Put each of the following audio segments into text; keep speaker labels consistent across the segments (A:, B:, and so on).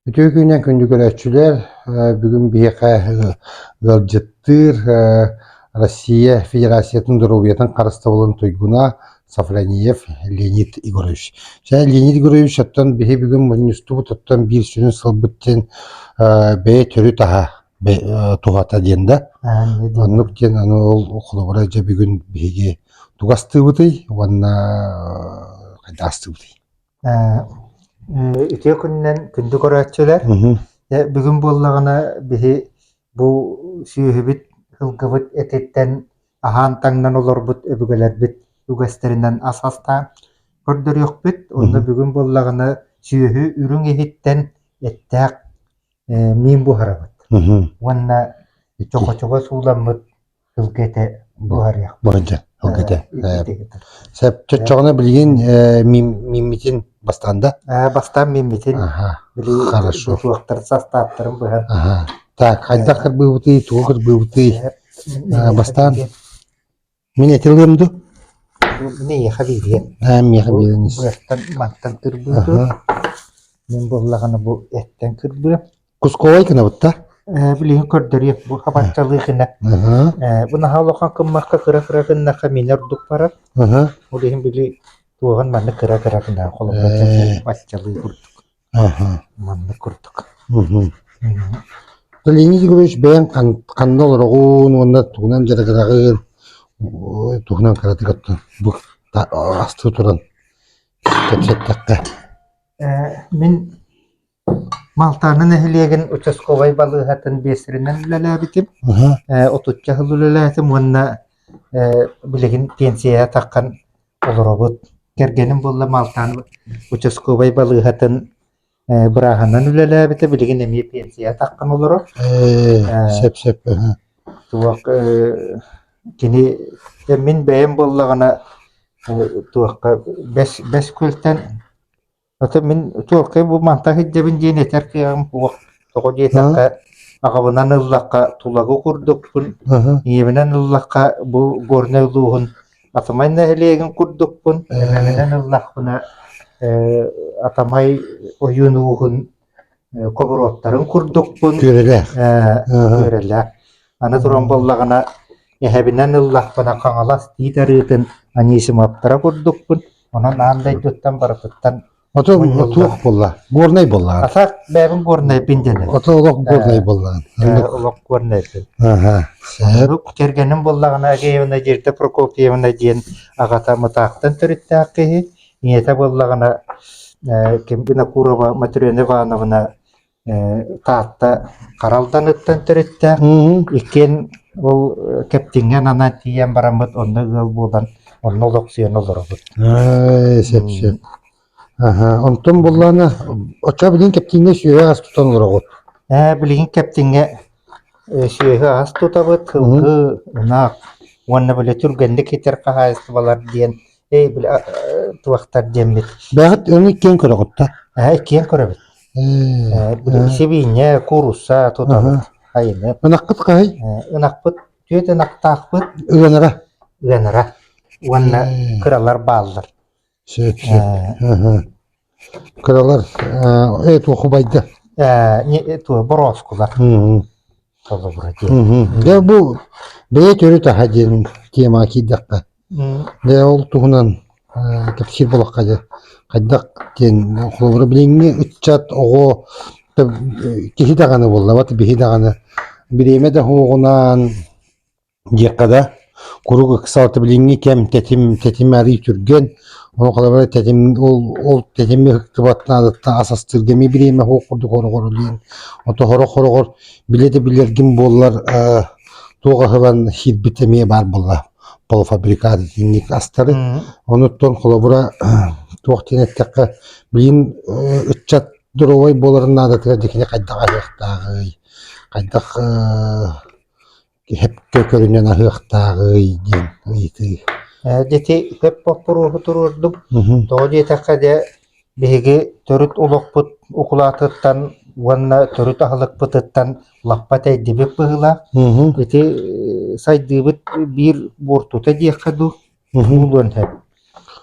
A: Үтүө күнүнэн күндү көрөөччүлэр! бүгүн биһиэхэ ыалдьыттыыр Россия Федерациятын доруобуйатын харыстабылын туйгуна Сафрониев Леонид Егорович. Чэ, Леонид Егорович, оттон биһи бүгүн мунньустубут, оттон биир сүрүн сылбыт син бэйэ төрүт аһа туһата диэн да. Оннук диэн аны ол холобура дьэ бүгүн биһиги тугастыыбытый уонна хайдаастыыбытый?
B: Үтүө күнүнэн күндү көрөөччүлэр. Бүгүн буоллаҕына биһи бу сүөһүбүт сылгыбыт этиттэн аһаан-таҥнан олорбут өбүгэлэрбит үгэстэринэн ас астаан көрдөрүөхпүт. Онно бүгүн буоллаҕына сүөһү үрүҥ иһиттэн эттээх миин буһарабыт. Уонна чохочуга сууламмыт сылгы буһарыахпыт
A: сөп чочоҕоно билигин мииммитин бастаан да бастаан мииммитин
B: хорошо
A: суохтар
B: састааптарын быһан так хайдах
A: кырбыыбытый туга кырбыыбытый бастаан мин этилиэм ду
B: миэхэ биириэн миэхэ бииринис
A: мантан
B: кырбыытым мин буллаҕына бу эттэн кырбыам Кусковай гынабыт
A: да? Э, билигин көрдөрүө,
B: бу хабаччалыы гына. Э, бу наһаа улахан кыммакка кыра-кыра гыннахха минер урдук барар. Ол иһин били туоһан манна кыра-кыра гына холобура хабаччалыы курдук. Маннык курдук.
A: Валерий Григорьевич бэйэҥ ханна олороҕун уонна тугунан дьарыгыраҕын туһунан кыратык оттон бу асты туран кэтиэттэххэ. Э,
B: мин Малтаны нэһилиэгин участковай балыыһатын биэсэринэн үлэлээбитим, ээ отучча сыл үлэлээтим уонна ээ билигин пенсияҕа таххан олоробут. Кэргэним буолла Малтан участковай балыыһатын ээ бырааһынан үлэлээбитэ, билигин эмиэ пенсияҕа таххан олорор. Ээ сөп-сөп. Туох ээ кини мин бэйэм буоллаҕына э, туохха бэс бэс күлтэн Ата мин чуолкай бу манта сылдьабын диэн этэр кыаҕым суох. Тоҕо диэтэххэ, аҕабынан ыллахха тулагы курдукпун, ийэбинэн ыллахха бу Горнай улууһун Атамай нэһилиэгин курдукпун, эмэминэн ыллахпына, э, Атамай ойуун ууһун хобуруоттарын курдукпун. Күөрэлээх. Күөрэлээх. Аны туран буоллаҕына, эһэбинэн ыллахпына Хаҥалас тиит арыытын Анисимовтара курдукпун. Онон аан дойдуттан барытыттан Ото
A: туох буолла? Горнай буоллаҕа. Атак бэйэбин
B: горнайпын дэнэр. Ото олох горнай
A: буоллаҕа. Олох горнайпын.
B: Аха. Сурук кэргэним буоллаҕына Агеевна Дирта Прокопьевна диэн аҕата Мытаахтан төрүттээх киһи. ийэтэ буоллаҕына ким Винокурова Матрена Ивановна Таатта Хара Алданыттан төрүттээх. Иккиэн ол Кэптиҥҥэ ананан тиийэн бараммыт онно ыал буолан онно олохсуйан олоробут.
A: Сөп-сөп. Онтон буллаана оччо билигин Кэптиҥҥэ сүөһү ас тутан олороҕут. Ээ, билигин
B: Кэптиҥҥэ сүөһү ас тутабыт, сылгы, ынах уонна бөлө түргэнник итэр хаһаайыстыбалар диэн Эй, били туохтар диэммит. Бэҕэт өҥү киэн
A: көрөҕүттэ. Эһэ киэн көрөбүт.
B: Э, били сибиинньэ, курууса тутабыт. Хайыны. Ынахпыт хаһый?
A: Ынахпыт,
B: түөт ынахтаахпыт. Ынара.
A: Ынара. Уонна
B: кыралар бааллар. Сөп, сөп.
A: Кыралар ээ туохубайда
B: ээ туо бороскулар толобура диэн
A: дэ бу бэйэ төрүт аха диэн тема киирдэхпэ дэ ол туһунан кэпсиир болохка дьэ хайдах диэн холобура билиҥҥи ыччат оҕо киһи даҕаны буоллабат биһи даҕаны бириэмэ да оһоҕунаан диэххэ да, куруук ыкса алта билиҥҥи кэм тэтим тэтим арыый түргэн, ол холобура тэтим ол ол тэтими ыһыктыбат наадаттан ас астыырга эмиэ бириэмэ суох курдук хороҕор диэн ото хороҕор хороҕор билэ да билэргин буоллар э, туох аһылан хиирбит эмиэ баар буолла полуфабрикат итинник астары онуттан холобура туох диэн эттэххэ билин э, ыччат доруобай буоларын наадатыгар дикини хайдах аһыахтааҕый хайдах э, кэһэккэ көрүнэн аһыахтааҕый диэн ыйытыы ити
B: көп боппуруоһу туруордум тоҕо диэтэххэ дьэ биһиги төрүт олохпут укулаатыттан уонна төрүт аһылыкпытыттан лаппа тэйдибит быһыылаах ити сайдыыбыт биир буортута диэххэ дуу буолуон сөп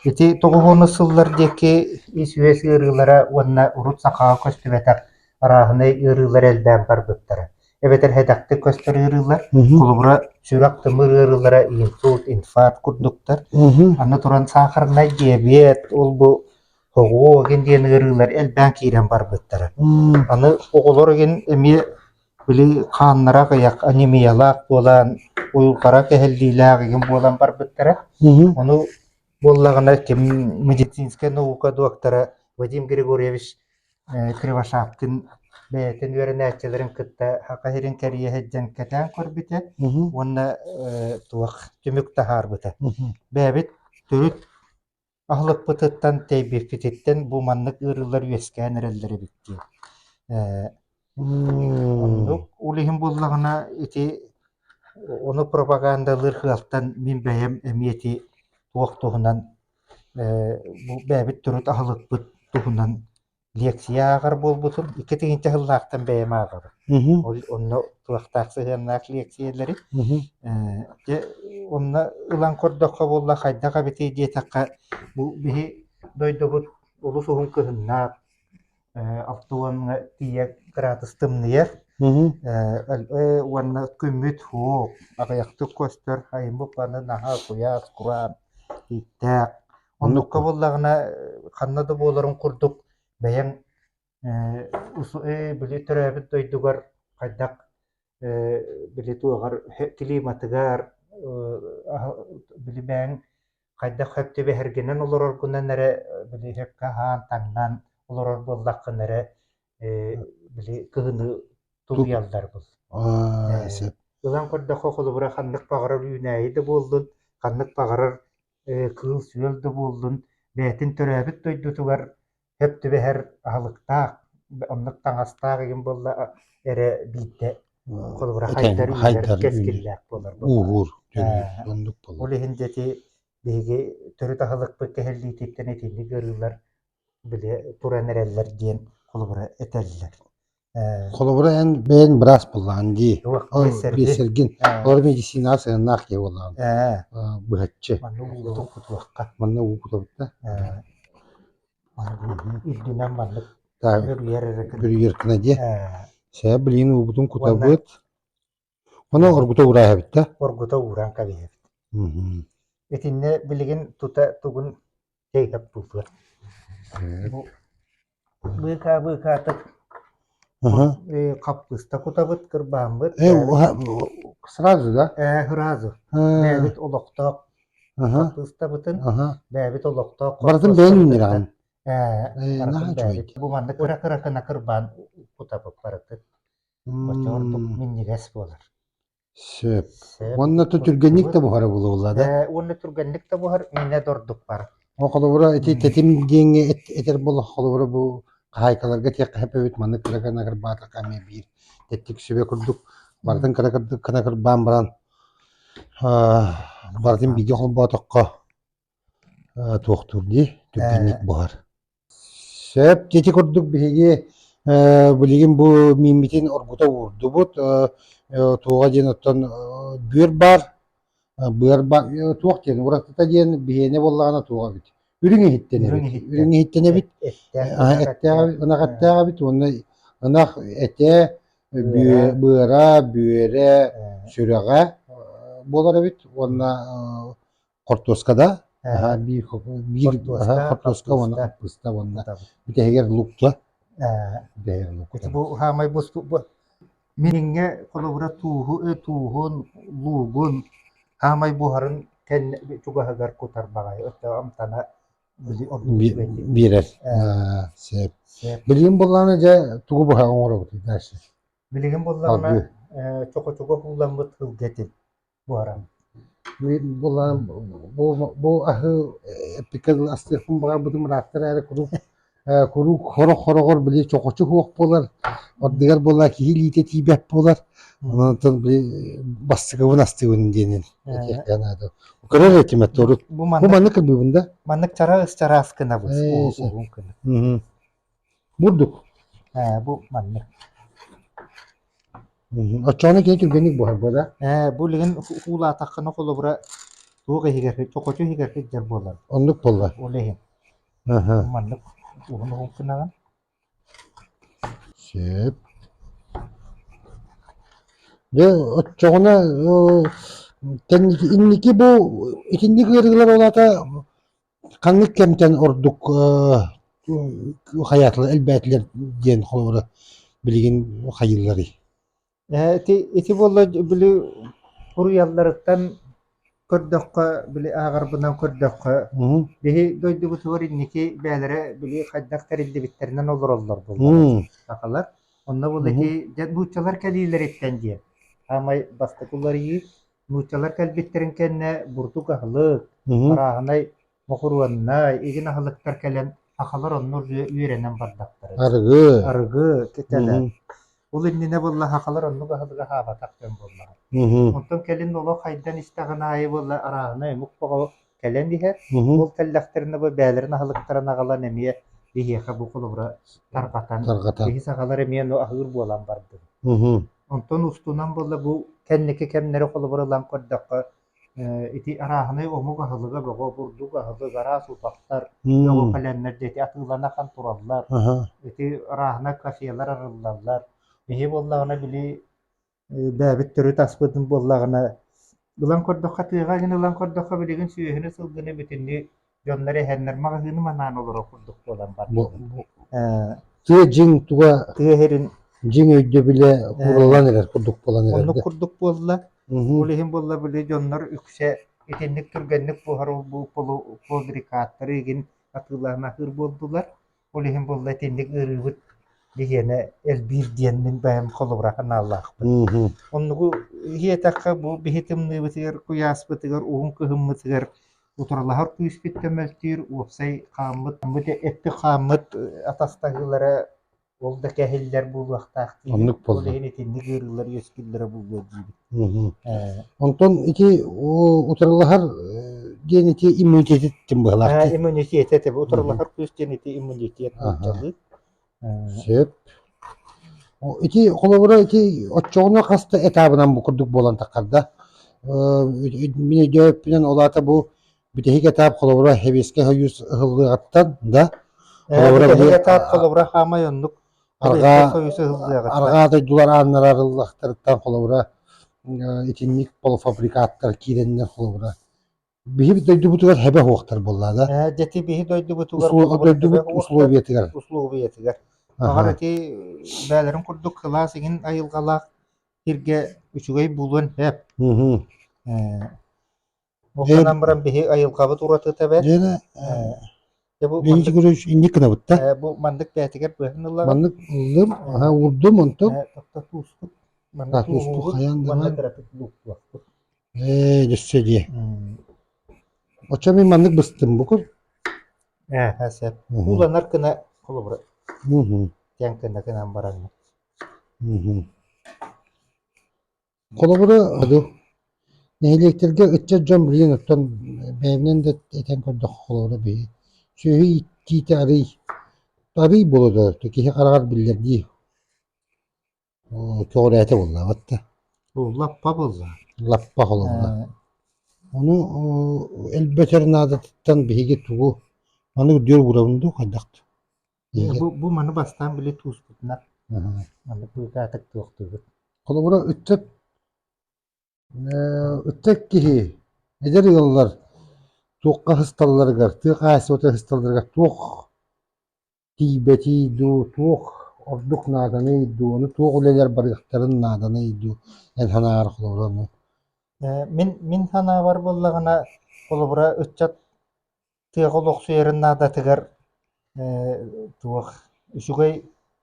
B: ити тоҕуһуонус сыллар диэки ис үөс ыарыылара уонна урут сахаҕа көстүбэтэх арааһынай ыарыылар элбээн барбыттара эбэтэр хэдэхтик көстөр ыарыылар, холобура
A: сүрэх-тымыр
B: ыарыылара инсульт, инфаркт курдуктар. Аны туран
A: саахарнай
B: диабет, ол-бу хоҕоо ген диэн ыарыылар элбээн киирэн барбыттара. Аны оҕолор ген эмиэ били хааннара кыйах анемиялаах буолан, уйулҕара кэһиллиилээх ген буолан барбыттара. Ону буоллаҕына ким медицинскэй наука доктора Вадим Григорьевич Кривошапкин бэйэтин үөрэнээччилэрин кытта саха сирин кэрийэ сылдьан кэтээн көрбүтэ уонна туох түмүк таһаарбыта. Бэйэбит
A: төрүт
B: аһылыкпытыттан тэйбиркититтэн бу маннык ыарыылар үөскээн эрэллэр эбит диэн. Оннук ол иһин буоллаҕына ити ону пропагандалыыр кыалтан мин бэйэм эмиэ ити туох туһунан бэйэбит төрүт аһылыкпыт туһунан лиэксийэ ааҕар буолбутум. Икки тыһыынча сыллаахтан бэйэм ааҕабын. Онно туохтаах сыһыаннаах лиэксийэлэри.
A: Дьэ,
B: онно ылан көрдөххө буолла хайдах эбитий диэтэххэ, бу биһи дойдубут олус уһун кыһыннаах, Оптуоҥҥа тиийэ кыраатыс тымныйар
A: уонна
B: күммүт һуох аҕыйахтык көстөр айым букваны наһаа куйаас кураан ииктээх оннукка буоллаҕына ханна да буоларын курдук бэйэҥ били төрөөбүт дойдугар хайдах били туоҕар климатыгар били бэйэҥ хайдах сөп түбэһэргинэн олороргунан эрэ били сөпкө аһаан таҥнан олорор буоллаххына эрэ били кыһыны тулуйаллар бу сөп
A: ылан көрдөххө
B: холобура ханнык баҕарар үүнээйи да буоллун ханнык баҕарар кыыл сүөл да буоллун бэйэтин төрөөбүт дойдутугар Сөп түбэһэр аһылыктаах, оннук таҥастаах игин буолла эрэ биирдэ холобура хайдар үүрэр кэскиллээх буолар Уур,
A: оннук буолар. Ол иһин дети
B: биһиги төрүт аһылыкпыт кэһиллиититтэн итинник ыарыылар били туран эрэллэр диэн холобура этэллэр. Холобура
A: эн бэйэн быраас буоллаҕын дии. Ол биэсэргин.
B: Олор
A: медицинаар сыһыаннаах киһи буоллаҕын. Быһаччы. Манна уукутук
B: кутуохха. Манна уукутубут да. Үрдүнэн маннык бүрүйэр эрэ.
A: Бүрүйэр
B: гына
A: дии. Сэ, блин уубутун кутабыт. Ону оргута уураа эбиттэ. Оргута ууран
B: кэбиһэбит. Итиннэ билигин тута тугун чэйкэп бултур. Быыкаа быыкаатык хаппыыста кутабыт кырбаамбыт.
A: Сразу, да? Ээ, сразу.
B: Бэбит олохтоох хаппыыстабытын бэбит олохтоох барытын бэйэн үннүрэҕин.
A: Ээ,
B: бу маннык кыра кыра кына кырбаан кутабыт барытын. Оччоҕо ордук минньигэс буолар. Сөп. Сөп.
A: Уонна то түргэнник да буһара булулла да? Э, Уонна түргэнник да
B: буһар, миинэ да ордук бара. О, холобура, ити
A: тэтим диэҥҥэ эт- этэр болох, холобура бу хаһаайкаларга тиэх хаһыппыт, маннык кыра кына кырбаатахха эмиэ биир тэттик сүбэ курдук барытын кына кырдык кына кырбаан баран аа, барытын бииргэ холбоотоххо туохтуур дии түргэнник буһар сөп ити курдук биһиги билигин бу мииммитин оргута уурдубут туоҕа диэн оттон бүөр баар быар баар туох диэн уратыта диэн биһиэнэ буоллаҕына туох эбит үрүҥ иһиттэнэбит үрүҥ иһиттэнэбит эттээҕэбит ынах эттээҕэбит уонна ынах этэ быара бүөрэ сүрэҕэ буолар эбит уонна хортуоска да биир хортуоска уонна хаппыста уонна бүтэһигэр лукка бу
B: хаамай миниҥҥэ холобура тууһу тууһун луугун хаамай буһарын кэннэ чугаһыгар кутар баҕайы өттө амтана биэрэр
A: билигин буллаҕына дьэ тугу быһа оҥоробут дальше билигин
B: буллаҕына чохочуга куулламмыт һылгэтин буолан
A: бу аһы эпиккэлин астыахпын баҕарбытым ырааттар эрэ куруук куруук сорох сороҕор били чохочу суох буолар ордугар буолла киһи илиитэ тиийбэт буолар онон бастакыбын астыыбын диэнин этиэххэ наада көрөр этимэт урут бу маннык кырбыыбын да маннык чараас
B: чараас кынабыс уус угун кынып
A: Бурдук. Ээ, бу
B: маннык.
A: Мм, Оччоҕуна кини түргэнник буһарбыта да. Ээ, бу билигин
B: уулаатаххына холобура туох иһигэр чохочу иһигэр кырдьар буолар. Оннук буолла. Ол
A: иһин
B: Аһа. маннык уһун уһун гынаҕын.
A: Сөп. Дьэ, оччоҕуна э, инники бу итинник ыарыылар ол аата Ханнык кэмтэн ордук хайааталар элбээтилэр диэн холобура билигин хайыылларый? Ээ, ити,
B: ити буолла били уруйалларыттан көрдөххө, били ааҕарбынан көрдөххө, биһи
A: дойдубутугар
B: инники бээлэрэ били хайдах тэриллибиттэринэн олороллор буоллар сахалар.
A: Онно
B: буолла ити дьэ
A: нууччалар
B: кэлиилэриттэн диэн саамай бастакы уларыйыы Нууччалар кэлбиттэрин кэннэ бурдук аһылык, парааһынай, бокуруоннай, игин аһылыктар кэлэн сахалар онно үөрэнэн бардахтара. Арыгы. Арыгы
A: китэлэн.
B: Ол
A: иннинэ буолла
B: сахалар оннук аһылык аһаабатах дьон буоллаҕа. Онтон кэлин
A: олох
B: хайдан истэҕин аайы буолла арааһынай омук бөҕө Кэлэн иһэр, ол тэллэхтэрин
A: абы
B: бээлэрин аһылыктаран аҕалан эмиэ биһиэхэ бу холобура тарҕатан, тарҕатан. киһи саҕалар
A: эмиэ ну
B: аһыыр буолан бардым. Онтон
A: устунан
B: буолла бу кэнники кэмнэри холобура ылан көрдөххө ити арааһынай омук аһылыга бөҕө бурдук аһылык араас утахтар оҕо пэлэмнэр дети
A: атыыланахан
B: тураллар ити
A: арааһына
B: кафелар арыллаллар иһи буоллаҕына били Бэбит төрүт аспытын буоллаҕына, ылан көрдөххө, тыаҕа гын ылан көрдөххө, билигин сүөһүнү-сылгыны бүтүннүү дьоннор эһэннэр маҕаһыыны манаан олорор курдук буолан бардылар.
A: Тыа дьиҥ туга тыа иһирин
B: дьиҥ өйдөбүлэ
A: курулан эрэр курдук буолан эрэр. Оннук курдук буолла.
B: Ол иһин буолла
A: били
B: дьоннор үксэ итинник түргэнник буһар полбрикаттары игин атыылаан аһыыр буолдулар. Ол иһин буолла итинник ыарыыбыт биһиэнэ элбиир диэн мин бэйэм холобура санаалаахпын. Мм.
A: Оннугу
B: иһиэтэххэ бу биһи тымныыбытыгар, куйааспытыгар, уһун кыһыммытыгар утарылаһар күүспүт көмөлтүүр, уопсай хааммыт, эттэ хааммыт атастаһыылара ол да кэһиллэр буолуохтаах диир. Оннук Ол буолла. иһин итинник
A: ыарыылар
B: үөскүүллэрэ буолуо диибит.
A: Онтон ити утарылаһар диэн ити иммунитет тим быһылаах. Иммунитет этэ
B: утарылаһар күүс диэн ити иммунитет аччалыы. Сөп.
A: Ити холобура ити оччоҕуна хаста этабынан бу курдук буолан тахарда. Мин өйдөөппүнэн олаата бу бүтэһик этап холобура хевиэскэ хойуус ыһыллыаҕыттан да холобура этап холобура
B: хаамай оннук арҕаа дойдулар ааннара
A: арыллахтарыттан холобура итинник полуфабрикаттар киирэннэр холобура биһи дойдубутугар хэбэ оһуохтар буоллаа да дьэти биһи
B: дойдубутугар дойдубут
A: условиятыгар условиятыгар
B: аҕар ити бээлэрин курдук кылаас игин айылгалаах иргэ үчүгэй булуон хэп
A: Ол
B: санаан баран биһи айылҕабыт уратыта бэрт. Лена,
A: Дьэ
B: бу Лена Григорьевич
A: инник гынабыт да? бу маннык бээтигэр
B: быһын ыллаҕын. Маннык ыллым,
A: аһа уурдум онтон. Тохто тууспут.
B: Маннык А, тууспут тууһубут, хайаан да
A: манна
B: терапевт
A: булуохпут.
B: Ээ,
A: өссө дии. Оччо мин маннык быстым букун. Ээ, ха
B: сөп. Мгм. Кууланар
A: гына
B: холобура Мгм,
A: тиэн гына гынан
B: баранна. мгм.
A: Холобура, дуу, нэһилиэктэргэ ыччат дьон билигин оттон бэйэбинэн да этэн көрдөххө, холобура биһи сүөһү иитиитэ арыый арыый буола турар, киһи хараҕар биллэр дии. Көҕүрээтэ буллаабат да. Лаппа
B: буолла. Лаппа холобура.
A: Ону элбэтэр наадатыттан биһиги тугу маннык үрдүөр уурабын дуу, хайдах да. Бу,
B: бу маны бастаан били тууспутунан аны
A: быыкаатык
B: туохтуубут Холобура, ыччат
A: ыччат киһи эдэр ыаллар туохха асталларыгар, тыа хаһаайыстыбата асталларыгар туох тиийбэтий дуу, туох ордук нааданый дуу, ону туох үлэлэр барыахтарын нааданый дуу эн санаары холобура ну? Мин
B: мин санаабар буоллаҕына холобура ыччат тыаҕа олохсуйарын наадатыгар туох үчүгэй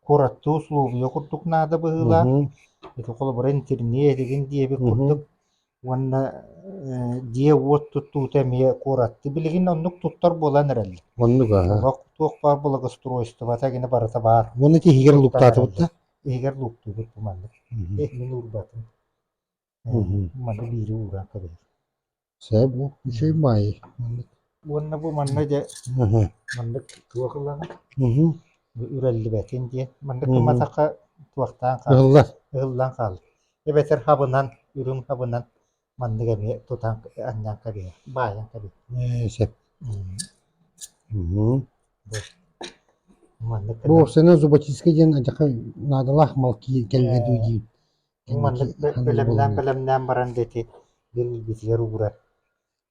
B: куораттыы усулуобуйа курдук наада быһыылаах. Ити холобура интернет этигин диэбит курдук уонна дьиэ-уот туттуута эмиэ куоратты билигин оннук туттар буолан эрэллэр. Оннук аһа. Олох
A: туох баар
B: благоустройствота гина барыта баар. Уонна ити иһигэр лууктаатыбыт
A: да? Иһигэр лууктуубут
B: бу маннык. Иһин уурбатын. биири ууран кэбиһэр Сээп
A: ол үчүгэй баайы маннык уонна бу
B: манна дьэ маннык туох ылаҕын үрэллибэтин диэн маннык гыматахха туохтаан хаалар ыһыллан
A: хаалар
B: эбэтэр хабынан үрүҥ хабынан маннык эмиэ тутан анньан кэбиһэр баайан кэбиһэр сөп маннык бу
A: собачиска диэн адьака наадалаах мал кэллэ дуу диэн
B: маннык бэлэмнээн баран диэки диэн илбитигэр уура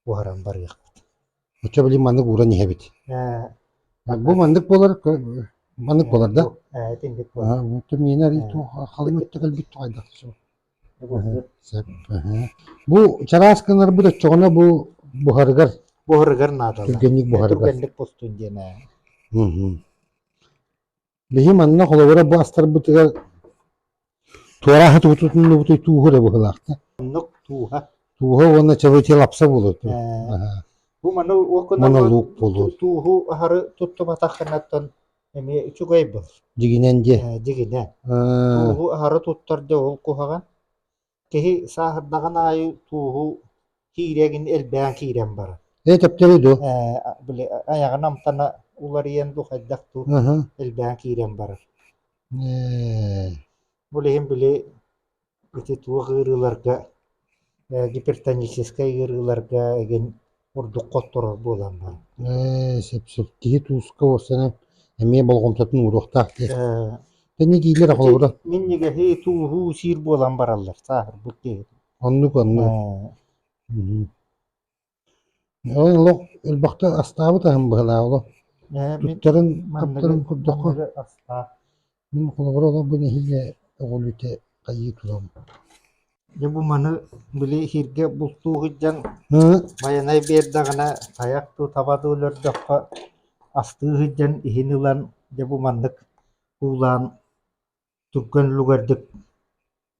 B: уһаран барыахпыт. Оччо билим
A: маннык ууран иһэбит. Бу маннык буолар маннык буолар да? Ээ, итинник
B: буолар. Тумиина туох
A: халыҥ өттө кэлбит тугайдах сөп. Бу чараас кынарбыт оччоҕуна бу буһарыгар буһарыгар наада.
B: Түргэнник буһарыгар. Түргэнник
A: бустун диэн
B: ээ.
A: Биһи манна холобура бу астарбытыгар туорааһы тутуннубутуй тууһу да быһылаахта. Оннук тууһа.
B: Тууһа уонна чабычы
A: лапса болот. Бу
B: маны уокунан луук болот.
A: Тууһу ахары
B: туттубатах ханаттан эмиэ үчүгэй бол. Дигинен де.
A: Дигинен.
B: Тууһу ахары туттар да ол куһаҕан. киһи сааһырдаҕын аайы тууһу киириэ гын элбээн киирэн барар Ээ, төптөрү дуу?
A: Э, били
B: айаҕын амтана уларыйан дуу хайдах дуу Ыһы. элбээн киирэн барар Э, бу иһин били ити туох ыарыыларга э, гипертоническай ыарыыларга игин ордукка отторор буолан баран ээ сөп-сөп
A: киһи тууска уорсанан эмиэ болҕомтотун ууруохтаах диэх ээ тэни диилэр холобура минньигэһи
B: тууһуу сиир буолан бараллар сааһырбыт киһи оннук оннук
A: ээ мм олох элбэхтэ астаабыт аһым быһалаа олох ээ мин туттарын маныгы таптарын көрдөххө маныгы астаах Мин холобура олорбут нэһилиэк өҕүлүтэ хайыы турам Дьэ бу
B: маны били иһиргэ бултуу сылдьан Байанай биэрдэҕинэ тайах дуу таба дуу өлөрдөххө астыы сылдьан иһин ылан дьэ бу маннык уулаан турган лугэрдик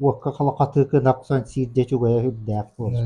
B: уокка халахатык ынах сон сиирдэ чугайа үрдээх буолар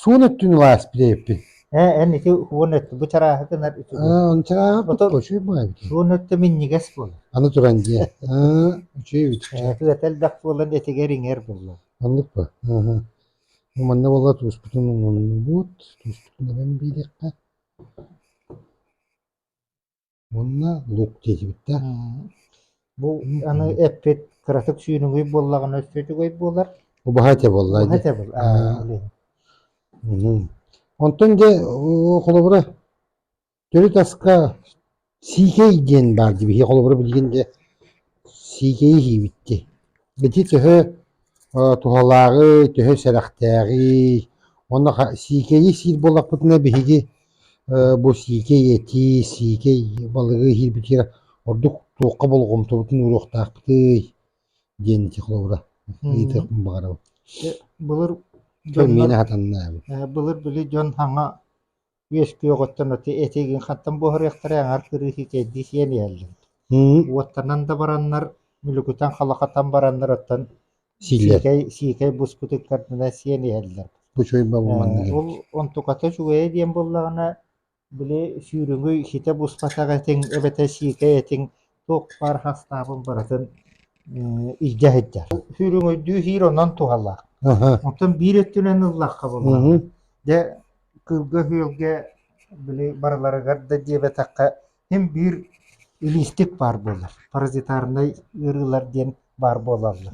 A: Суон өттүн ылаас билэйиппин. Ээ, эн ити
B: уон өттү бу чарааһы гынар үтүгүн. Аа, чарааһа
A: учуй баайбытын. Суон өттө минньигэс
B: буолар. Аны туран дьиэ. Аа,
A: учуй бүт. Ээ, түөтэ элбэх
B: буолан этигэр иҥэр буолла. Оннук ба.
A: Аха. Манна болла туспутун умуннубут. Туспутун эбэн биилэххэ. Уонна лук диэтибиттэр. Бу
B: аны эппит кыратык сүүнүгүй буоллаҕына өссө үчүгэй буолар. Бу баһа этэ буолла.
A: Баһа этэ буол.
B: Онтон дьэ
A: холобура төрүт аска сиикэй диэн баар дии биһи холобура билигин дьэ Сиигэйи иһиибиттии. Ити төһө туһалааҕый, төһө сэрэхтээҕий? Уонна сиикэйи сиир буоллахпытына биһиги бу сиикэй этии, сиикэй балыгы иһиирбитигэр ордук туохха болҕомтобутун ууруохтаахпытый? диэн ити холобура ыйытыахпын баҕарабын. Былыр
B: дьон Миэнэ
A: сатаннаабын. Былыр били дьон саҥа
B: үөскүөҕүттэн ити этигин хантан буһарыахтарай аҥар кырыыс итиэрдии сиэн иһэллэр уоттанан да бараннар мүлүкүтэн халахатан бараннар оттон сиикэй сиикэй буспутун көрдүнэ сиэн иһэллэр
A: ол онтуката
B: үчүгэйэ диэн буоллаҕына били сүүрүҥүй ситэ буспатах этиҥ эбэтэр сиикэй этиҥ туох баар хастаабын барытын илдьэ сылдьар. Сүүрүҥөйдүү иһиир онон туһалаах. Оттон биир өттүнэн ыллахха булла. Дэ кылга-күөлгэ били барыларыгар да диэбэтэххэ им биир илиистик баар буолар. Паразитарнай ыарыылар диэн баар буолаллар.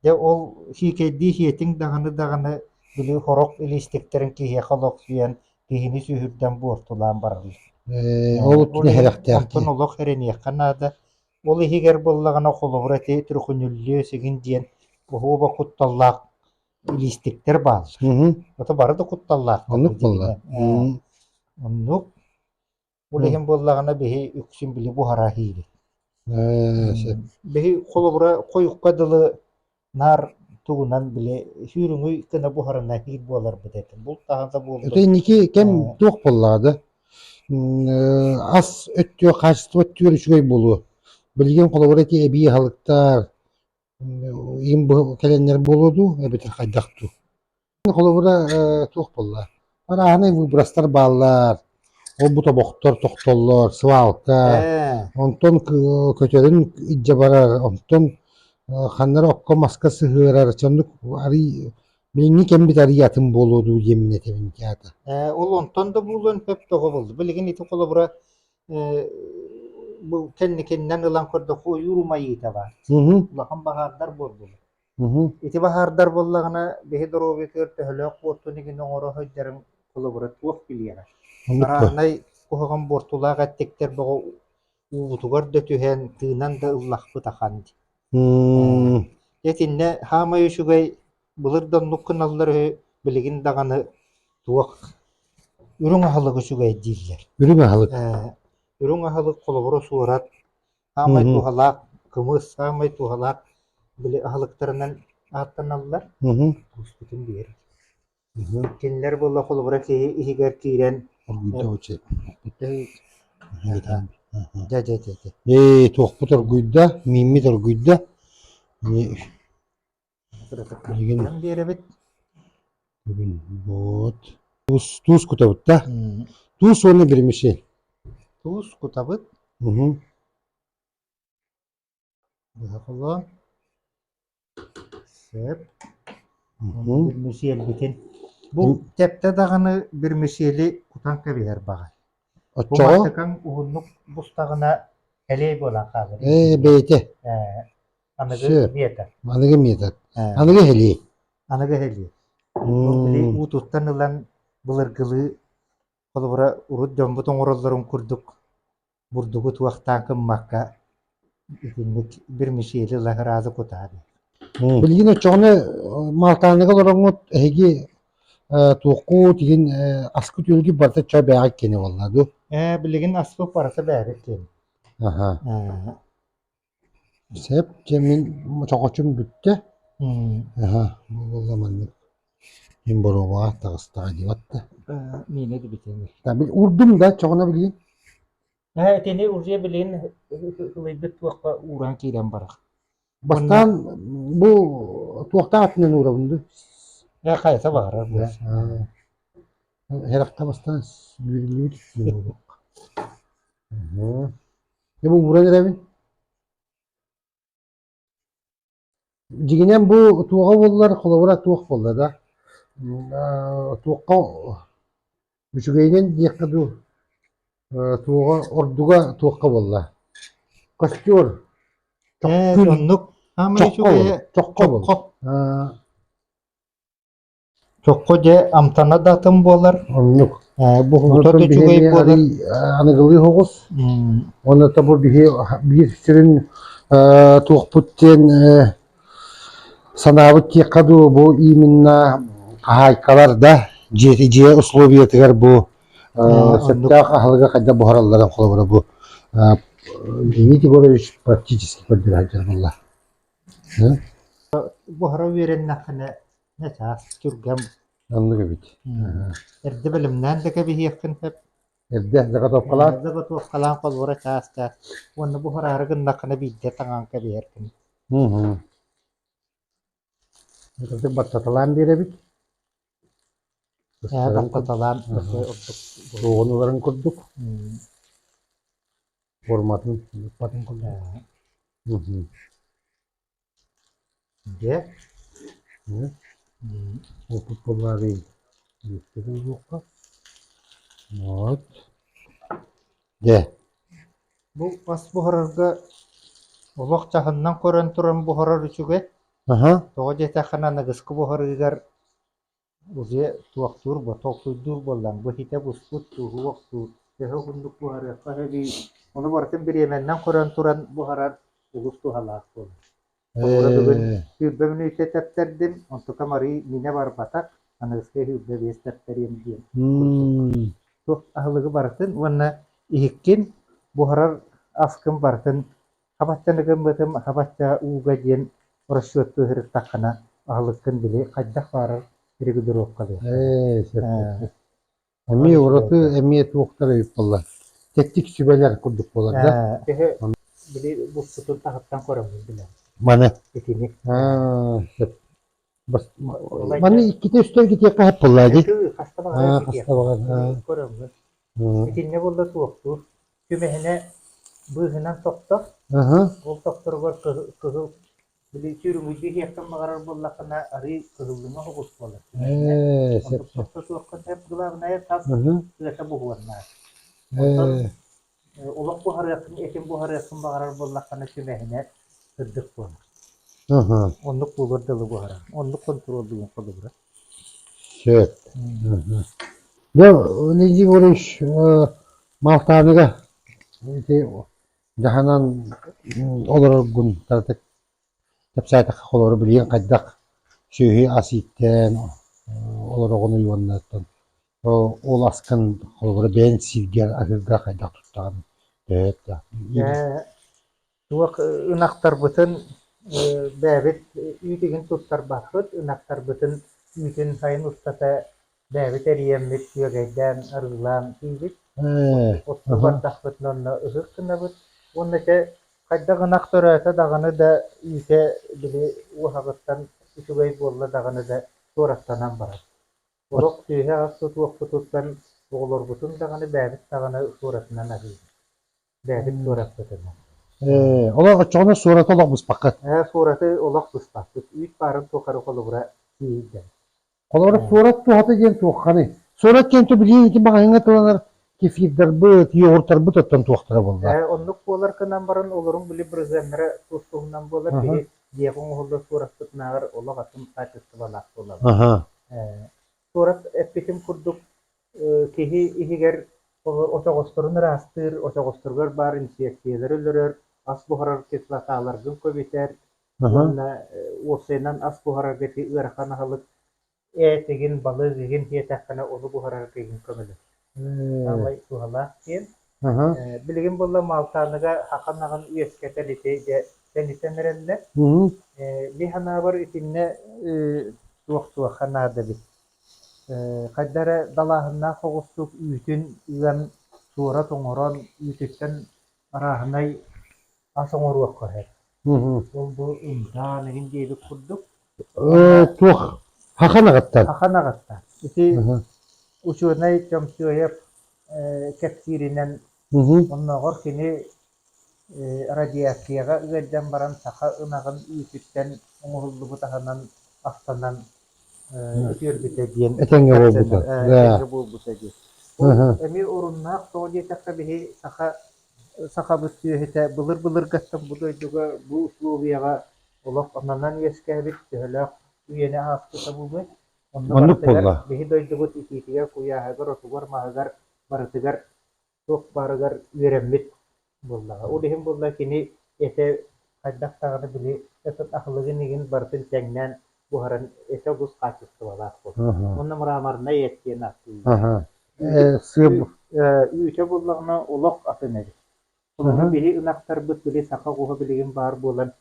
B: Дэ ол сиикэйдии сиэтиҥ даҕаны даҕаны били хороқ илиистиктэрин киһиэхэ олохсуйан киһини сүһүрдэн буортулаан барар үһү. Ол
A: түһэрэхтээх Онтон олох эрэниэххэ
B: наада. Ол иһигэр буоллаҕына холобура ити түргүнүллүө сигин диэн оһуоба кутталлаах илиистиктэр бааллар. Ото бары да кутталлаах. Оннук буолла. Оннук Ол иһин буоллаҕына биһи үксүн били буһара иһиибит. Биһи холобура хойукка дылы наар тугунан били сүүрүҥүй кына буһарына иһиир буоларбыт этим. Бултаһан да буоллун. Это инники кэм
A: туох буоллаада? Ас өттүө, хаачество өттүгэр үчүгэй буолуо. Билигин холобура эти эбии аһалыктар, им бу кэлэннэр буолуо дуу эбэтэр хайдах дуу холобура туох буолла парааһынай выбростар бааллар ол бу тобохтор тохтоллор свалка онтон көтөрүн илдьэ барар онтон ханнара окко маска сыһыарар чоннук арый билиҥҥи кэмбит арый атын буолуо дуу диэмин этэбин театр ол онтон да
B: буолуон сөп тоҕо буолла билигин ити холобура Бу кэнникиннэн ылан көрдөххө ойуур умайыыта баар. Улахан
A: баһаардар
B: буоллулар. Ити
A: баһаардар
B: буоллаҕына биһи доруобуйатыгар төһөлөөх буортун игини оҥоро сылдьарын холобура туох билиэҕэ. Араарнай
A: куһаҕан
B: буортулаах эттиктэр бөҕө уубутугар да түһэн, тыынан да ыллахпыт ахан дии.
A: Дьэ итиннэ
B: хаамай үчүгэй Былыр да оннук гыналлар үһү, билигин даҕаны туох үрүҥ аһылык үчүгэй дииллэр. Үрүҥ аһылык. Э,
A: үрүҥ
B: аһылык холобура суорат, саамай Мгм.
A: туһалаах кымыс,
B: саамай туһалаах били аһылыктарынан ааттаналлар. Мгм. Куспутун
A: биэр.
B: Мгм.
A: Кинилэр буолла холобура
B: киһи иһигэр киирэн Оргуйда очи.
A: э, дьэ дьэ дьэ дьэ. Ээ, туохпут оргуйда, мииммит оргуйда. Ани Миигин Хайан биэрэбит?
B: бүгүн
A: буут туус туус кутабыт да М, туус уонна гирмиши Туус
B: кутабыт, уһу быһа холоон, сеп, уонна
A: уһу гирмиши өлбүтүн.
B: Бу тэптэ даҕаны гирмишили кутан кэбиһэр баҕа. Бу оччоҕо мантыкаҥ
A: уһуннук
B: бустаҕына элэй буолан хаалар. ээ бэйэтэ
A: Ээ,
B: Аныгы Сөп.
A: метр. Аныгы метр.
B: Э,
A: Аныгы эһилии. Аныгы эһилии.
B: Бу били уу туттан ылан былыргылыы холобура урут дьоммут оҥороллорун курдук бурдугу туохтаан кыммакка итинник bir мишели лагараазы кутаады. Мм. Билигин
A: оччоҕуна э, Малтааныга олороҥҥут эһиги э, туоххут игин э, аскы түөлги барыта ча бэҕэ кини болла ду Э, билигин аспыт
B: барыта бээбит диэн. аха
A: Э, Сэп дьэ мин чохочум бүттэ аһа буолла маннык мин боруобаҕа таҕыстаҕа дии барда миэнэ диэбит
B: Урдум да
A: чоҕоно билигин ээ итини
B: уже билигин ылыйбыт туохха ууран киирэн барар бастаан
A: бу туохтаах аттынан уурабын дуй ээ хайата
B: баҕарар
A: харахта бастаан Дьэ, бу ууран эрэбин. Дьигинэн бу туоҕа буоллар, холобура туох буолла да? Туохха үчүгэйинэн диэххэ дуу, туоҕа ордуга туохха буолла? Костер. Э, оннук.
B: Чоххо буол. Чоххо буол. Чоххо дьэ амтана да атын буолар, Оннук. э,
A: буһуута да Онтон
B: биһиги үчүгэй
A: буолар. аный-
B: аныгылыы оҕус
A: М, уонна тобу биһи биир сүрүн э, туохпут диэн э, санаабыт диэххэ дуу бу именно хаһаайкалар да дьиэ, дьиэ условиятыгар бу э, А, сөптөөх аһылыга хайдах буһаралларын холобура бу э, Дмитрий Егорович практически көрдөрө сылдьар буолла.
B: Буһара үөрэннэххинэ Дьэ, чаас түргэн. Ыннык эбит.
A: Эрдэ
B: бэлэмнээн да кэбиһиэххин сөп. Эрдэ заготовкалаан.
A: Эрдэ готовкалаан
B: холуора чаас-чаас. Уонна буһараары гыннаххына биирдэ таҥаан кэбиһэркин.
A: Ытык баттаталаан биэрэбит. Ээ,
B: баттаталаан
A: Суоҕунууларын курдук. Форматын. Форматын курдук.
B: Дьэ, что
A: популярый диэххэ буолуохха, вот дьэ,
B: бу мас буһарарга олох дьаһанынан көрөн туран буһарар үчүгэй, тоҕо
A: диэтэххинэ
B: аныгыскы буһарыыгар Дьэ, туохтуур ботуоксуйдуур буоллаҥ, бу ситэ буспут, тууһу охсуур, төһө угуннук буһарыахха сөбүй, ону барытын бириэмэннэн көрөн туран буһарар олус туһалаах буолар. Оҕолор бүгүн сүүрбэ мүнүүтэ тэптэрдим, онтукам арыый миинэ барбатах, аныгыскы сүүрбэ биэс тэптэриэм диэн. Туох аһылыгы барытын уонна иһиккин буһарар аскын барытын Хабаччаны гыммытым, хабачча ууга диэн расчетку сырыттаххына, аһылыккын били хайдах баарар регулировкалыыр. Ээ, сөп.
A: Эмиэ ураты, эмиэ туохтар ыйыппаллар. Тэттик сүбэлэр курдук буолар да. Ээ, киһи били
B: букпутун таһыттан көрөммүт билэн. Маны. Итини.
A: Аа,
B: сөп.
A: Маны иккитэ үстэн китиэххэ хаппыллаа дии.
B: Хаста баҕарар китиэх.
A: Көрөҥҥүт.
B: Итиннэ буолла суохтуур. Күмэһинэ быыһынан тохтор. Ол тохторугар кыһыл били сүрүҥүтүү диэхтэн баҕарар буоллаххына арыы кыһыллыма оҕус буолар.
A: Онтукта суохха
B: тэп главная тас тыата
A: буһуоннаар.
B: Оттон
A: олох
B: буһарыаххын, этин буһарыаххын баҕарар буоллаххына түбэһинэр, сырдык буолар.
A: Оннук буолар дылы
B: буһарар. Оннук хонтуруоллуун холобура. Сөп.
A: Да, Владимир Валерьевич, малтааныга ити дьаһанан олороргун таратык кэпсээтэххэ холору билиэн хайдах сүөһү ас ииттэн олороҕун уоннаттан Ол аскын холобура бэйэҥ сииргэр аһыырга хайдах тустаҕын төһө өттөөх
B: туох ынахтарбытын бэйэбит үүтүгүн туттарбаппыт, ынахтарбытын үүтүн сайын устата бэйэбит эрийэммит күөгэйдээн, арыылаан иибит, оттуу бардахпыт
A: онно ыһык
B: гынабыт. Уонна чэ хайдах ынах төрөөтө даҕаны да үүтэ били уоһаҕыттан үчүгэй буолла даҕаны да туораттанан барар. Сорох үөһэ-арса туохпутуттан оҕолорбутун даҕаны бэйэбит даҕаны суоратынан аһыыбыт. Бэйэбит суоратпытынан. Ээ, олох
A: оччоҕуна суораты олох быспаккыт. Ээ, суораты олох
B: быспаппыт. Үүт баарын тухары холобура тиийдэ. Холобура,
A: суорат туһата диэн туохханый? Суорат диэн то билигин ити маҕаһыыҥҥа тыланар кефирдарбыт, йогуртарбыт оттон туохтара буолла? Ээ, оннук буолар гынан
B: баран олорун били бырыһыаннара тус-туһунан буолар. Киһи дьиэҕэ
A: оҥоһуллар
B: суораспытынааҕар олох атын хаачыстыбалаах буолабыт.
A: Суорат
B: эппитим курдук, киһи иһигэр очоҕосторун ыраастыыр, очоҕосторугар баар инсекциялары өлөрөр, ас буһарар кислоталаргын көбүтэр уонна уопсайынан ас буһарарга ити ыарахан аһылык Ээ, тигин, балык игин диэтэххинэ ону буһарарга игин көмөлөс. Саамай суһалаах диэн. Э, Билигин
A: буолла
B: Малтааныга ахан аҕын үөскэтэр ити дьэ тэнитэн эрэллэр. Э,
A: Ми санаабар
B: итиннэ э, туох-туохха наада эбит. Э, Хайда эрэ далааһыннаах оҕустук үүтүн ыан, суора тоҥорон, үүтүттэн арааһынай ас оҥоруохха сөп. Ол-бу ымтаан эҥин диэбит курдук. Туох
A: хахан аҕаттан? Хахан аҕаттан.
B: Ити
A: учуонай
B: Чомчоев кэпсииринэн
A: оннооҕор кини
B: радиацияҕа ыалдьан баран саха ынаҕын үүтүттэн оҥоһуллубут аһынан астанан үтүөрбүтэ диэн этэҥҥэ буолбута
A: этэҥҥэ буолбута
B: дии эмиэ
A: оруннаах
B: тоҕо диэтэххэ биһи саха сахабыт сүөһүтэ былыр былыргаттан бу дойдуга бу условияҕа олох ананан үөскээбит төһөлөөх үйэни ааспыта буолуой оннук буолла биһи
A: дойдубут итиитигэр
B: куйааһыгар отугар маһыгар барытыгар туох баарыгар үөрэммит буоллаҕа. Ол иһин буолла кини этэ хайдах даҕаны били этот аһылыгын игин барытын тэҥнээн буһаран этэ олус хаачыстыбалаах буолла. Уонна мраморнай
A: эт
B: диэн ааттыыр.
A: Үүтэ
B: буоллаҕына олох атын эбит. Онон
A: били ынахтарбыт
B: били саха оҕуһа билигин баар буолан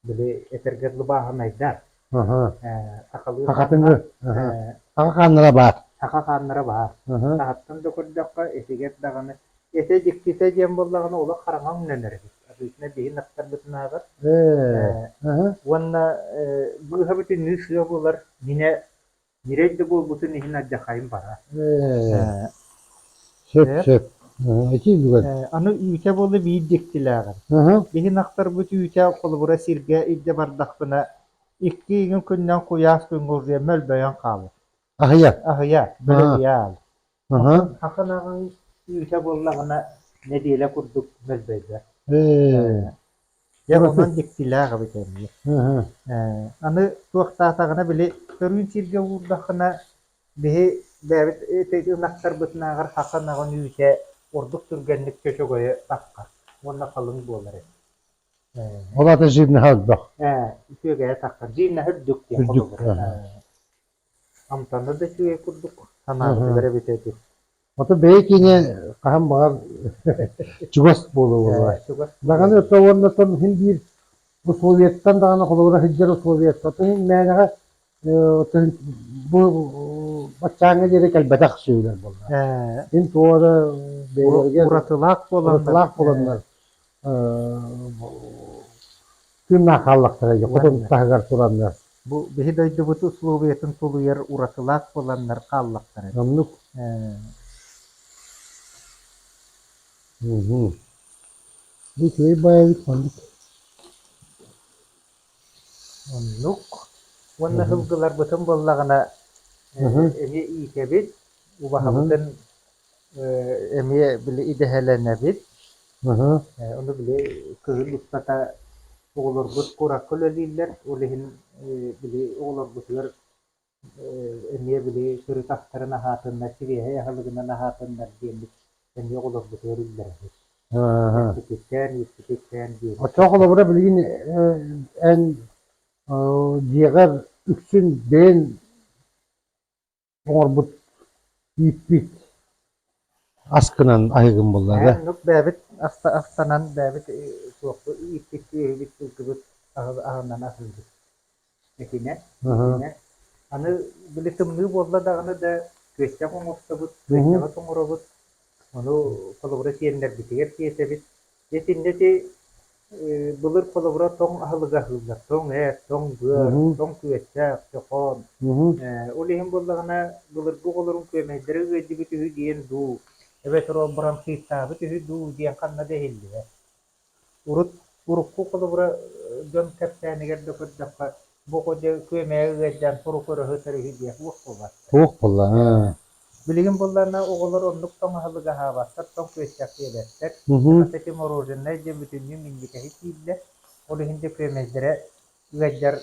B: били этэргэ дылыбааһынайдар
A: сахатыҥы саха хааннара баар саха хааннара баар
B: таһыттан да
A: көрдөххө
B: итигэр даҕаны этэ дьиктитэ диэн буоллаҕына олох хараҥа өҥнөнөр эбит обычно биһин аттарбытынааҕар
A: уонна
B: быыһабытыныы сыа булар минэ Ньирэй да буолбутун иһин алдьархайым
A: бара. Ээ, сөп-сөп. Этии бүгэн. Э, аны үүтэ буолла
B: биир дьиктилээҕим. Аһа. Биһин
A: ахтарбыт
B: үүтэ холобура сиргэ илдьэ бардахпына, икки иҥин күнүнэн куйаас күнгулдьуйа мөлбөйөн хаалар. Аһыйа. Аһыйа,
A: бөлө А.
B: ыйаал. Сахан
A: аҕаҥ
B: үүтэ буоллаҕына нэдиэлэ курдук мөлбөйдөр. Дьэ онон
A: дьиктилээх эбит
B: эми.
A: Аны
B: туохтаатаҕына били көрүүн сиргэ уурдаххына биһи бэйэбит ынахтарбытынааҕар сахан аҕын үүтэ ордук түргэнник чөчөгөйө тахха уонна халыҥ буолар эбит.
A: Ол аата жирнэһэ өлбөх. Үтүөгэйэ
B: таххар. Жирнэһэ үрдүк диэн холобур.
A: амтанна
B: да үчүгэй курдук, санаатылар
A: эбитэ ити.
B: Ото бэйэ
A: киинэ хаһан баҕар чугас буола буолуо. Даҕаны өттө уонна тон иһин биир условиеттан даҕаны холобура сылдьар условиеттан иһин мээнэҕэ бу баччааҥҥа диэри кэлбэтэх сүөлэр буолла. Мин туора бэйэлэргэ уратылаах
B: буоланнар
A: тыыннаах хааллахтара дии хотон таһыгар тураннар бу биһи дойдубут
B: условиятын тулуйар уратылаах буоланнар хааллахтара оннук
A: бу күөй баайбыт маннык
B: оннук уонна сылгыларбытын буоллаҕына эмиэ иикэбит убаһабытын эмиэ били идэһэлэнэбит. Ыһы, ону били кыһын устата оҕолорбут куоракка үлэлииллэр, ол иһин били оҕолорбутугар эмиэ били сырыт астарын аһаатыннар, кириэһэй аһылыгынан аһаатыннар диэммит эмиэ оҕолорбутугар үллэрэбит. Эппитикээн, ииппитикээн диир. Оччоҕо холобура билигин
A: эн дьиэҕэр үксүн бэйэн оҥорбут ииппит ас гынан аһыгым буллаҕа. бэйэбит
B: астанан бэйэбит суохпут ииппит иэһибит сылгыбыт аһынан аһыыбыт. Этинэ, этинэ. Аны били тымныы буолла даҕаны да күөстэҕи оҥостобут, күөстэҕи тоҥоробут. Ону холобура сиэннэрбитигэр тиэтэбит. Дьэ итиннэ ити былыр холобура тоҥ аһылыгы аһыыллар. Тоҥ эт, тоҥ быар, тоҥ күөстээх, чохоон. Ол иһин буоллаҕына былыргы оҕолорун күөмэйдэрэ ыалдьыбыт үһү диэн дуу, эбэтэр ол баран сыыстаабыт үһү дуу диэн ханна да иһиллибэт. Урут урукку холобура дьон кэпсээнигэр да көрдөххө Бу дьэ күөмэйэ ыалдьан турук өрөһү төрүһүйдиэх уох буолар. Туох
A: буллаҥ? Билигин
B: булларына оҕолор оннук тоҥ аһылыгы аһаабаттар, тоҥ күөсчэх диэбэттэр. Хас эти мороженнай дьэ бүтүннүү минньигэһи тииллэр. Ол иһин дьэ күөмэйдэрэ ыалдьар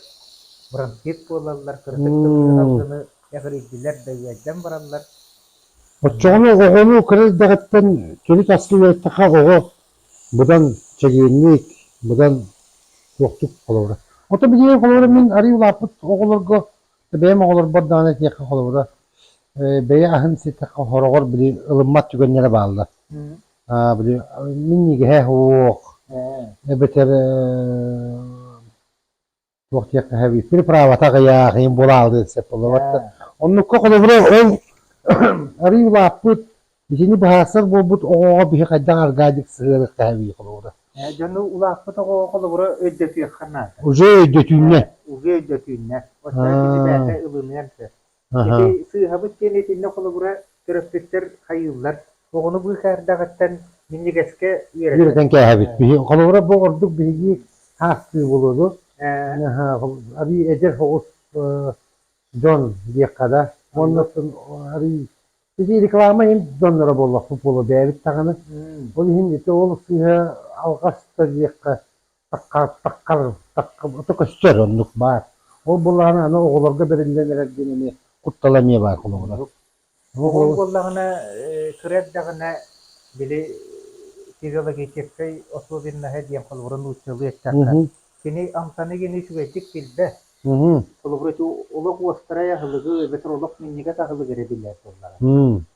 B: бронхит буолаллар, кырдык тымныы алгыны эҕирийдилэр да ыалдьан бараллар. Оччоҕуна
A: оҕону кыра эрдэҕиттэн кири таскы үөттэххэ оҕо быдан чэгиэнник, быдан туохтук холобура. Ото билиэн холобура мин арыый улааппыт оҕолорго, бэйэм оҕолорбор даҕаны этиэххэ холобура, бэйэ аһын ситэххэ хороҕор били ылыммат түгэннэрэ бааллар. Аа били минньигэһэ суох эбэтэр туох диэхтэһэбит переправата аҕыйаах буолаалыы сөп олорор оннукка холобура ол арыый улааппыт итини быһаарсар буолбут оҕоҕо биһи хайдах аргаадьык сыһыарык тэһэбии холобура дьону улааппыт
B: оҕоҕо холобура өйдөтүөххэ наада уже өйдөтүүннэ уже өйдөтүүннэ
A: оттон киһи бэйэтэ
B: ылыныан сөп Ити Аһа. сыыһабыт диэн итиннэ холобура төрөппүттэр хайыыллар. Оҕону быыкаардаҕыттан минньигэскэ үөрэтэн. Үөрэтэн кээһэбит. Биһи,
A: холобура бу ордук биһиги саастыы болуоду. Арыы эдэр оҕус дьон диэххэ да. Оннуттан арыы Ити реклама иһин донноро буоллахпыт буолуо бэйэбит даҕаны. Ол иһин ити ол сыыһа алҕас да диэххэ Сакаастаххар, саккабаты көрсөр оннук баар. Ол буоллаҕына аны оҕолорго бэриллэн эрэр диэн эмиэ куттала эмиэ баар холобура. Ол
B: буоллаҕына, кыра эрдэҕинэ били физиологическай особенноһа диэн холобура нууччалыы эттэххэ, кини амтаны генэ үчүгэйдик билбэт. Холобура, ити олох уостарай аһылыгы эбэтэр олох минньигэс аһылыгы эрэ билэр буоллаҕа.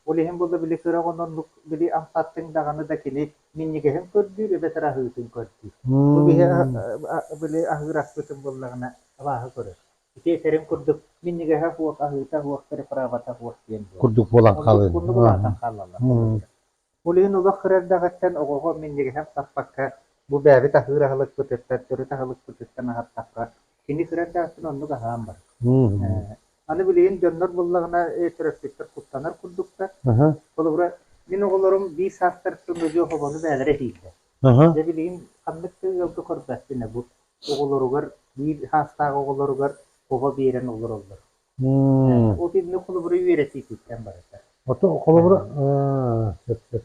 B: Ол иһин буолла били кыра оҕону оннук били амтаттыҥ даҕаны да кини минньигэһин көрдүүр, эбэтэр аһыытын көрдүүр. Бу биһи били аһыыр аспытым буоллаҕына абааһы көрөр. Ити этэрин курдук минньигэһэ суох, аһыыта суох, препарата суох диэн буолар. Курдук буолан хаалын.
A: Курдук
B: улаатан хаалаллар. Улиин олох кыра эрдэҕиттэн оҕоҕо минньигэһин саппакка, бу бэйэбит аһыыр аһылыкпытыттан, төрүт аһылыкпытыттан аһаттахха, Кини кыра эрдээхтэн оннук аһаан бар. Аны билигин дьоннор буллаҕына төрөппүттэр куттанар курдуктар. Холобура, мин оҕолорум биир саастарыттан өлүөх обону бээлэрэ иһиирдэ. Дьэ билигин ханнык да ыалга көрбөттүнэ бу оҕолоругар биир саастаах оҕолоругар оҕо биэрэн олороллор. Ол иннинэ холобура үөрэтиититтэн барыта. Ото холобура
A: сөп сөп.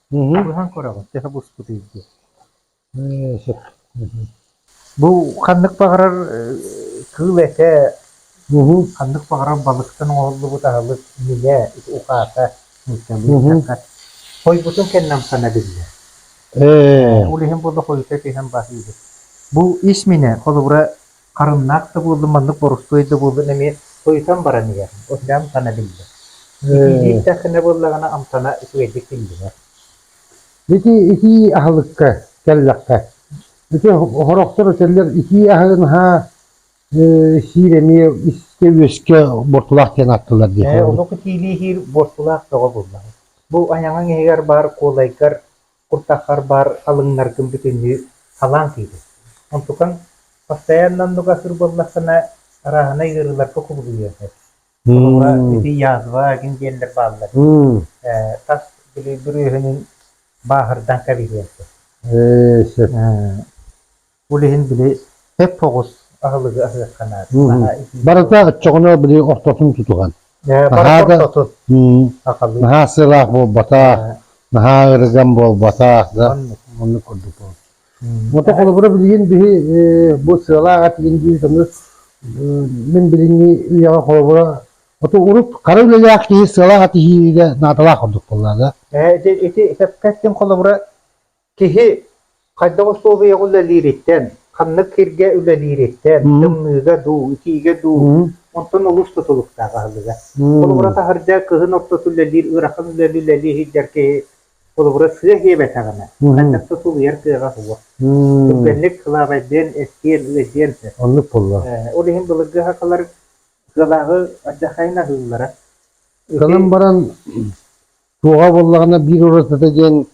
B: Быһан көрөҕүн төһө буспутуй диэн. Ээ, сөп. Бу ханнык баҕарар кыыл этэ, ханнык баҕарар балыктан оҥоһуллубут аһылык, нилэ, ухаата, нуучча быычака. Хойбутун кэннэ амсана биллэр. Ол иһин бу да хойута иһэн баһыыбыт. Бу ис миинэ, холобура, Харымнаах да буоллум, маннык борустуой да буоллун эмиэ, тойутан баран иһэр, утуйан-тана биллэр. Итии ииттэххинэ буоллаҕына амтана үчүгэйдик биллинэр. Ити итии
A: аһылыкка кэллэххэ, ити хорохтор этэллэр итии аһы наһаа сиир эмиэ искэ-үөскэ бортулаах диэн аттылар диэтэ. Ээ, онук итиилии иһиир
B: бортулаах бөҕө буоллаҕа. Бу айаҥаҥ иһигэр баар куолайгар куртаххар баар халыҥнаргын бүтүннүү халаан сыыдын. Онтукаҥ постоянно оннуга сур буоллаххына, арааһынай ыарыыларга кубулуйуо сөп. Холобура, ити язва дьин диэллэр бааллар. Э, тас бүлүй бүрүөһүнүн бааһырдан кэбиһиэн сөп. Ээ, сөп. Ол иһин били эп оҕус аһылыгы аһыахха наада. Барыта
A: оччоҕуна били ортотун тутуһан. Наһаа да
B: наһаа сыраах
A: буолбатах, наһаа ырыган буолбатах да оннук курдук буолбут. Мото холобура билигин биһи бу сыалаах этигин диир көмө мин билиҥҥи үйэҕэ холобура Оту урут хара үлэлээх киһи сыалаах атыһиирэ наадалаах ордук буолла да. Ити ити
B: сөпкөттүн холобура Киһи хайдах усулуобуйаҕа үлэлиириттэн, ханнык сиргэ үлэлиириттэн, тымныыга дуу, итиигэ дуу, онтон олус тутулуктаах аһылыга. Холобура таһырдьа кыһын ортото үлэлиир, ыарахан үлэли үлэлии сылдьар киһи холобура сыа иһиэбэтэҕинэ, хантан да тулуйар кыаҕа суох. Түргэнник кылаабайдыан, эстиэн, ыайдыан сөп. Оннук буолла.
A: Ол иһин былыргы
B: аһакалар кыалааҕы ардахайын аһыыллара. Санан
A: баран, туоҕа буоллаҕына биир уратыта диэн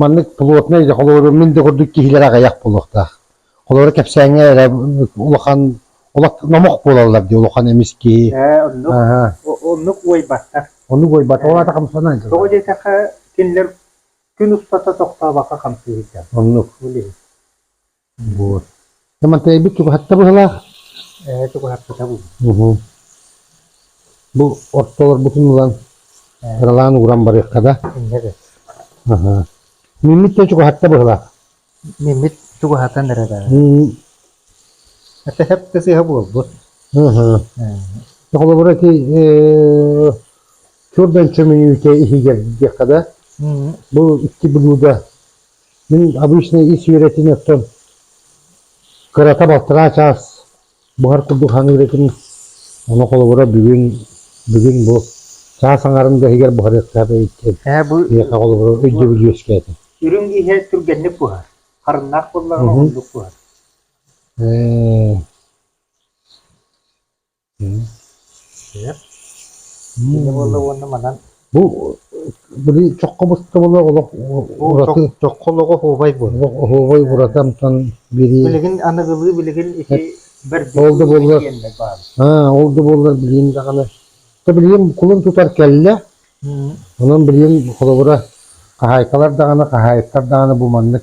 A: Маннык плотнай холобур мин да курдук киһилэр аҕыйах буолуохтаах. Холобура кэпсээҥҥэ эрэ улахан олох номох буолаллар дии улахан эмис киһи. Ээ
B: оннук оннук уойбаттар. Оннук уойбаттар. Ол аата
A: хамсанан. Тоҕо диэтэххэ
B: кинилэр күн устата тохтообокко хамсыы сылдьар. Оннук.
A: Буор. Самантайбыт чугаһатта быһылаах. Ээ, чугаһаппата
B: бу.
A: Бу ортолорбутун ылан ыралаан ууран барыахха да. Инньэ да. Аха. Миммит да чугаһатта быһылаах. Миммит
B: чугаһатан эрэ да. Ата хапта сыыһа буолбут. Аха.
A: Холобура ити чурдан чөмүнүүтэ иһигэр диэххэ да. Бу икки блуда Мин обычно ис үөрэтин оттон кырата балтараа чаас буһар курдук хаҥыыр этим. Ону холобура бүгүн бүгүн бу чаас аҥарын да иһигэр буһарыахтаах эбиттэр. Ээ бу миэхэ холобура
B: өйдөбүл
A: үөскээтэ. Үрүҥ иһэ
B: түргэнник буһар. Харыннаах буоллаҕына Мгм. ордук буһар. Э, Итиннэ буолла уонна манан Бу
A: били чоххо быстыбыла олох ураты чоххо олоҕо
B: оһуобай буолла. олох оһуобай ураты
A: амтан бириир Билигин аныгылыы
B: билигин ити бэрдик Ол да буоллар.
A: диэннэр баар. аа ол да буоллар билигин даҕаны то билигин кулун тутар кэллэ Мм. онон билигин холобура хаһаайкалар даҕаны хаһаайыттар даҕаны бу маннык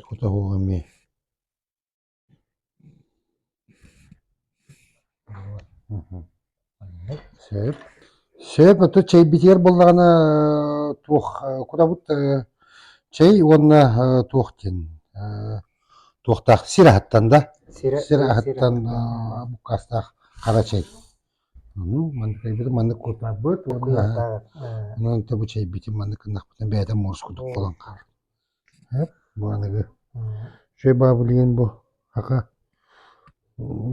A: Тута суох эмиэ сөп сөп оттон чэй битиэр буоллаҕына туох кутабыт чэй уонна туох диэн туохтаах сир аһыттан да сир аһыттан буккаастаах хара чэй маннык маннык кутарбыт уонна онон бу чэйбитин маннык гыннахпытына бэйэтэ муорус курдук буолан хаалар Бааныгы үчүгэй баабылыйын бу аха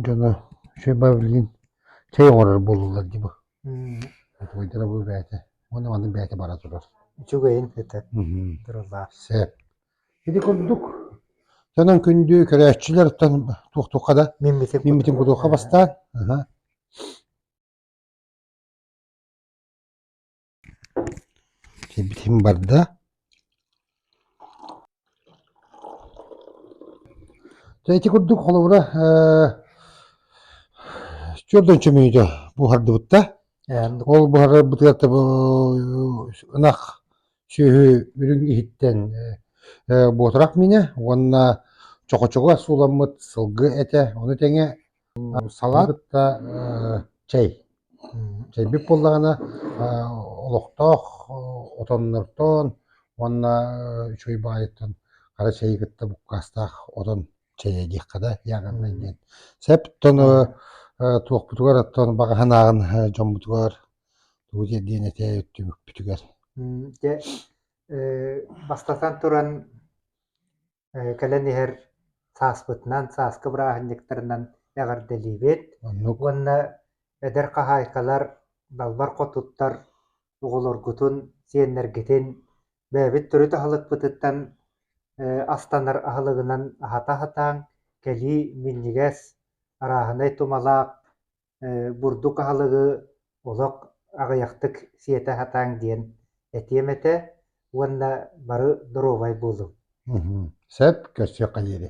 A: дьоно үчүгэй баабылыйын чэй оҥорор буоллулар дии бу утуйдара бу бэйэтэ уонна манна бэйэтэ бара турар үчүгэйин этэр
B: тырылаах сэп
A: ити курдук дьонон күндү көрөөччүлэртэн туохтуха да миммитин миммитин кутуха бастаан аха Сибэтим барда дьэ ити курдук холобура ээ түөрт уонча мүнүүтэ буһардыбытта ол буһарарбытыгар ынах сүөһү үрүҥ иһиттэн буотурах миинэ уонна чохочуга сууламмыт сылгы этэ ону тэҥэ Салат да чэй, чэйбит буоллаҕына олохтоох отоннортон уонна үчүгэй баайыттан хара чэйи кытта буккаастаах отон чэйэ диэххэ да яаҕыннай диэн. Сэп тону туохпутугар оттон баҕаһын ааҕан дьоммутугар тугу тиэрдиэн этэ өттүбүппүтүгэр. Дьэ,
B: бастатан туран кэлэн иһэр сааспытынан, сааскы бырааһынньыктарынан эҕэрдэлиибит уонна эдэр хаһаайкалар, далбар хотуттар оҕолоргутун, сиэннэргитин бэйэбит төрүт аһылыкпытыттан астанар аһылыгынан аһата аһатааҥ, кэлии минньигэс, арааһынай тумалаах бурдук аһылыгы олох аҕыйахтык сиэтэ сатааҥ диэн этиэм этэ
A: уонна
B: бары
A: доруобай
B: буолуҥ
A: сөп
B: көрсүөххэ диэри